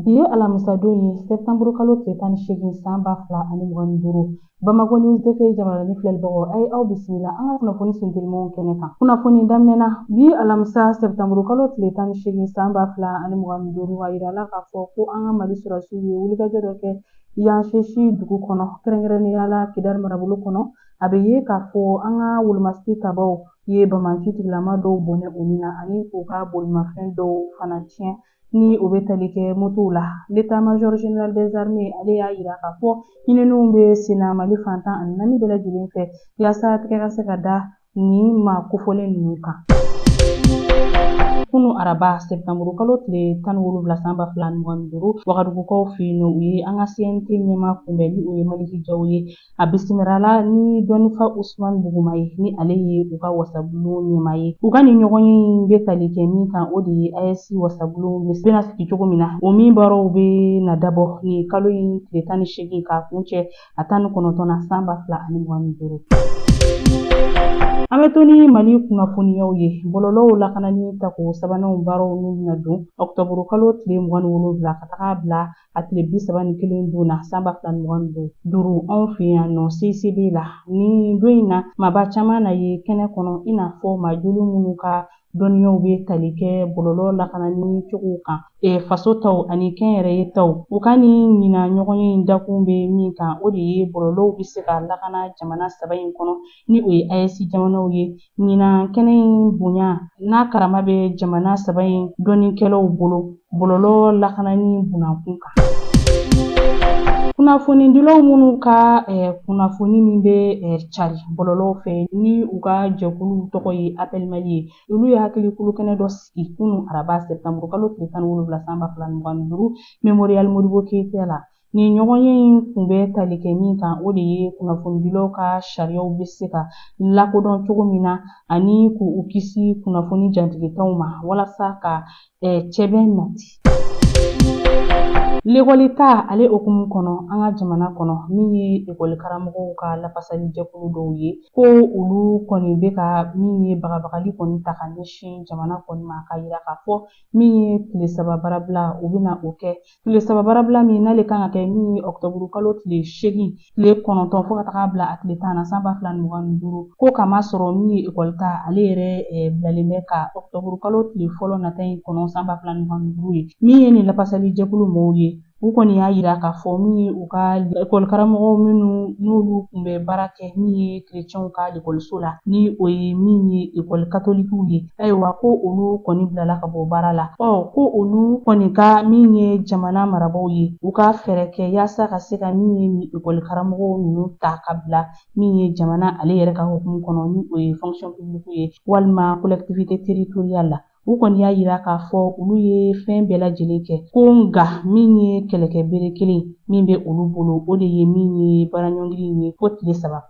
Bi ye alamisadon ye sɛtanburu kalo tile tan ni seegin san ba fila ani mugan ni duuru bamakɔ news tv jabarani filɛlibagaw a ye aw bisimila an ka kunnafoni sentelimanw kɛnɛ kan kunnafoni daminɛna bi alamisa sɛtanburu kalo tile tan ni seegin san ba fila ani mugan ni duuru a yirala k'a fɔ ko an ka mali sɔrɔsiw ye wulikajɔ dɔ kɛ yanshesi dugu kɔnɔ kɛrɛnkɛrɛnnenya la kidali marabolo kɔnɔ a bɛ ye k'a fɔ an ka wolomasigi tabaw ye banbaanci tigilama dɔw bɔnɛ u ni na ani k'u ka bolimafɛn dɔw fana tiɲɛ ni o bɛ tali kɛ motow la l'état-major général des armées ale y'a yira k'a fɔ ɲininiw bɛ senna mali fan tan ani naani bɛɛ lajɛlen fɛ yasa tɛgɛ ka se ka da nin maa kofɔlen ninnu kan kunu araba sɛptanburu kalo tile tan wolonwula san ba fila mugan ni duuru wagadugukaw fɛ yen nɔ u ye an ka cnt ɲɛmaa kunbɛn ni o ye maliki jaw ye A bisimilala ni dɔnnifa Usman Buguma ye ni ale ye u ka wasabulon ɲɛmaa ye. U ka nin ɲɔgɔnye in bɛ tali kɛ min kan o de ye AES wasabulon bɛna sigi cogo min na. O min baaraw bɛna dabɔ nin kalo in tile tan ni seegin k'a kuncɛ a tan ni kɔnɔntɔn na san ba fila ani mugan ni duuru. An bɛ to ni Mali kunnafoniyaw ye. Bɔlɔlɔw lakanani tako sabananw baaraw n'u bɛna don ɔkutɔburukalo tile mugan ni wolonwula ka taga bila a tile bi saba ni kelen don na san ba fila ni mugan ni duuru duuru anw fɛ yan nɔ CICB la nin don in na maaba caman na ye kɛnɛ kɔnɔ i n'a fɔ majoli minnu ka dɔnniyaw bɛ tali kɛ bɔlɔlɔ lakanani cogow kan e, faso taw ani kɛnyɛrɛye taw u ka nin ɲinan ɲɔgɔnye in dakun bɛ min kan o de ye bɔlɔlɔw bɛ se ka lakana jamana saba in kɔnɔ ni o ye AES jamanaw ye ɲinan kɛnɛ in bonya n'a karama bɛ jamana saba in dɔnnikɛlaw bolo bɔlɔlɔ lakanani bunankun kan kunnafonidilaw minnu ka eh, kunnafoni min bɛ eh, cari bɔlɔlɔw fɛ ni u ka jɛkulu tɔgɔ ye appel mali ye olu ye hakili kulukɛnɛ dɔ sigi kunu araba sɛptanburukalo tile tan ni wolonwula san ba fila ni mugan ni duuru memorial modibo keyita la Nin ɲɔgɔnye in kun bɛ tali kɛ min kan o de ye kunnafonidilaw ka sariyaw bɛ se ka lakodɔn cogo min na ani k'u kisi kunnafoni jatigintanw ma walasa ka cɛbɛn nati. Lekɔli ta ale hukumu kɔnɔ an ka jamana kɔnɔ min ye ekɔlikaramɔgɔw ka lafasali jɛkulu dɔw ye ko olu kɔni bɛ ka min ye bagabagali kɔni ta ka ɲɛsin jamana kɔni ma k'a yira k'a fɔ min ye tile saba baarabila u bɛna o kɛ Tile saba baarabila min n'ale kan ka kɛ min ye ɔkutɔburu kalo tile seegin tile kɔnɔntɔn fo ka taga bila a tile tan na san ba fila ni mugan ni duuru ko k'a masɔrɔ min ye ekɔli ta ale yɛrɛ eh, bilalen bɛ ka ɔkutɔburu kalo tile fɔlɔ nata in kɔnɔ san ba fila ni mugan ni duuru ye min ye nin lafasali jɛkulu mɔɔw ye u kɔni y'a yira k'a fɔ min ye u ka ekɔlikaramɔgɔw minnu n'olu kun bɛ baara kɛ min ye kerecɛnw ka ekɔliso la ni o ye min ye ekɔli katolikiw ye ayiwa ko olu kɔni bilala ka bɔ baara la ɔ ko olu kɔni ka min ye jamana marabaaw ye u ka fɛɛrɛ kɛ yaasa ka se ka min ye ni ekɔli karamɔgɔw ninnu ta ka bila min ye jamana ale yɛrɛ ka hukumu kɔnɔ ni o ye fonction publique ye walima collectivité territoriale la u kɔni y'a yira k'a fɔ olu ye fɛn bɛɛ lajɛlen kɛ ko nka min ye kɛlɛkɛ bere kelen min bɛ olu bolo o de ye min ye baaraɲɔngiri ye fo tile saba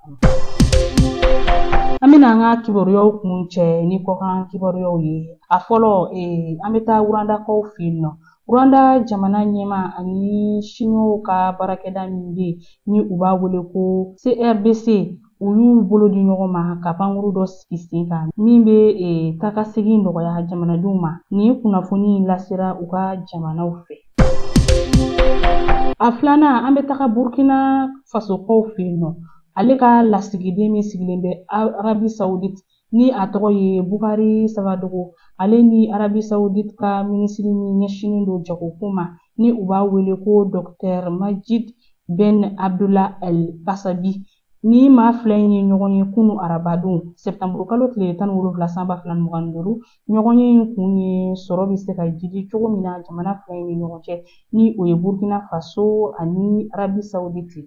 An bɛna an ka kibaruyaw kuncɛ ni kɔkan kibaruyaw ye a fɔlɔ ee an bɛ taa Rwandakaw fɛ yen nɔ Rwanda jamana ɲɛmaa ani siniwaw ka baarakɛda min bɛ yen ni u b'a wele ko CRBC u y'u bolo di ɲɔgɔn ma ka pankurun dɔ sigi sen kan min bɛ e, taakasegin nɔgɔya jamanadenw ma nin kunnafoni in lasera u ka jamanaw fɛ a filanan an bɛ taga burkina fasokaw fɛ yen nɔ ale ka lasigiden min sigilen bɛ arabi sawuditi ni a tɔgɔ ye bukari sabadogo ale ni arabi sawuditi ka minisiri min ɲɛsinnen don jagoko ma ni u b'a wele ko dɔkitɛri majid ben abdula el basabi Nin maa fila in ye ɲɔgɔn ye kunu arabadon sɛpitanburu kalo tile tan ni wolonwula san ba fila mugan ni duuru ɲɔgɔnye in kun ye sɔrɔ bɛ se ka jiidi cogo min na jamana fila in ni ɲɔgɔn cɛ ni o ye burkina faso ani arabi saudite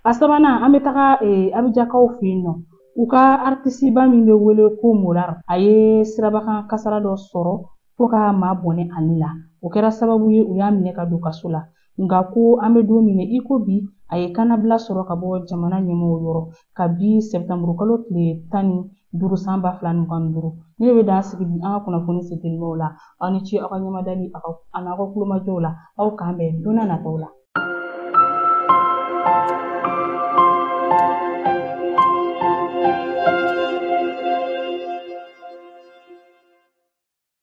a sabanan an bɛ taga eh, abijankaw fɛ yen nɔ u ka aritisiba min bɛ wele ko Molare a ye sirabakan kasara dɔ sɔrɔ fo ka maa bɔnɛ a ni la o kɛra sababu ye u y'a minɛ ka don kaso la nka ko an bɛ don min i ko bi a ye kannabila sɔrɔ ka bɔ jamana ɲɛmɔgɔw yɔrɔ kabi sɛpitanburu kalo tile tan ni duuru san ba fila mugan ni duuru ne bɛ dan sigi bi an ka kunnafoni setelimaw la aw ni ce aw ka ɲɛmadali ani aw ka kulomajɔw la aw k'an bɛn don na nataw la